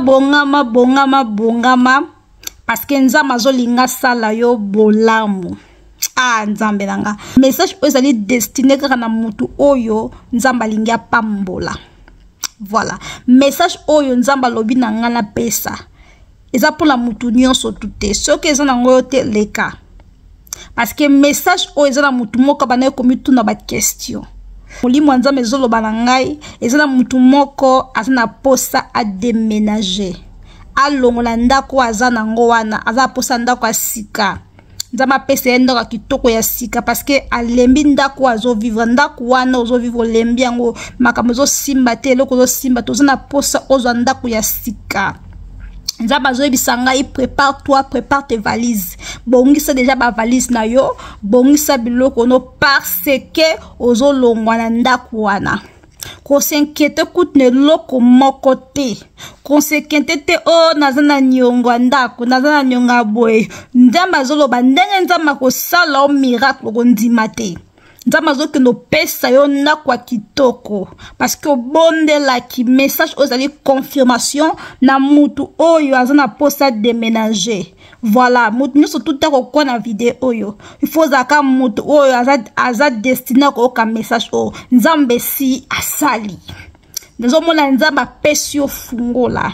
bongama bongama bongama parce que nzambe azolinga sala yo bolamu ah nzambe na nga message oyo ezali destine kaka na motu oyo nzambe alingi apambola voilà message oyo nzambe alobi na ngai napesa eza mpona motu nyonso tu te soki eza na yango yo te leka parce que message oyo eza na motu moko abandaki komituna baquestion molimo ya nzambe ezoloba na ngai eza na motu moko aza na posa ademenage alongola ndako oyo aza na yango wana aza na posa ndako ya sika nzambe apesa ye ndako ya kitoko ya sika parceke alembi ndako oyo azovivre ndako wana ozovivre olembi yango makambo ezosimba te eloko ezosimba te oza na posa ozwa ndako ya sika nzambe azoyebisa ngai prépare toi prépare tes valises bongisa deja bavalise na yo bongisa biloko no parce que ozolongwa na ndako wana kosenkete kutu na eloko moko te konsekente te o oh, naza na niongo ya ndako naza na niongo ya boye nzambe azoloba ndenge nzambe akosala o miracle okondima te nzambe azokende opesa yo ndako ya kitoko parceke obondelaki message oyo ezali confirmation na mutu oyo aza na mposa deménager voilà moto nyonso tuta kokoa na video oyo ifo ozalaka moto oyo aza, aza destine akoyoka message oyo nzambe si asali nazomona nzambe apesi yo fungola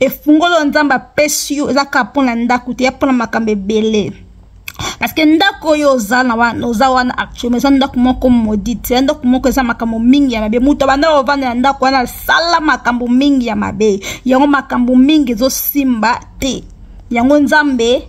efungoli oyo nzambe apesi yo eza kaka mpo na ndako te ya mpo na makambo ebele parce que ndako oyo oza na wana oza wana actuellement eza ndako moko modite eza ndako moko eza makambo mingi ya mabe moto abanda ovanda na ndako wana asala makambo mingi ya mabe yango makambo mingi ezosimba te yango nzambe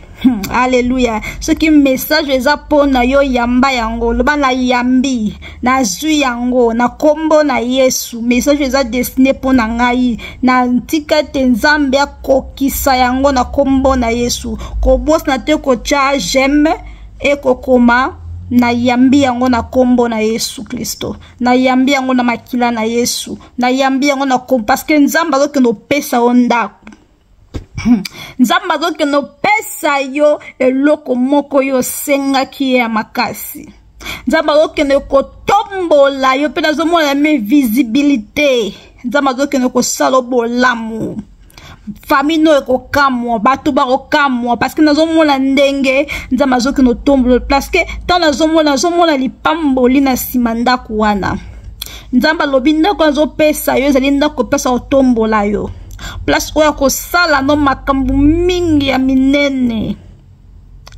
Hmm, aleluya soki message eza mpo na yo yamba yango loba na yambi nazwi yango na nkombo na yesu message eza destine mpo na ngai na ntika ete nzambe akokisa yango na nkombo na yesu kobosana te kotya jeme ekokoma nayambi yango na nkombo na yesu kristo nayambi yango na makila na yesu nayambi yango na nkombo parceke nzambe azokende opesa yo ndako Hmm. nzambe azokende opesa yo eloko moko yo osengaki ye ya makasi nzambe azokende kotombola yo mpe nazomona ya me visibilité nzambe azokende kosala obolamu famille no ekokamwa bato bakokamwa parceke nazomona ndenge nzambe azokende otombola parceke ntango nazomona nazomona lipamboli na nsima ndako wana nzambe alobi ndako azopesa yo ezali ndako opesa otombola yo place oyo akosala no makambo mingi ya minene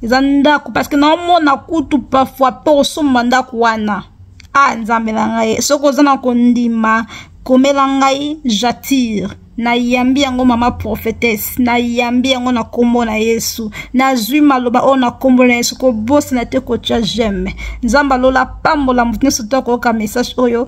eza ndako parceke naomona kutu parfois mpe osomba ndako wana a ah, nzambe na ngai soki oza na kondima komela ngai jatire nayambi yango mama prophetese nayambi yango na nkombo na yesu nazwi maloba oyo na nkombo na yesu kobosana te kotya jeme nzambe alola pambola moto nyonso to akoyoka message oyo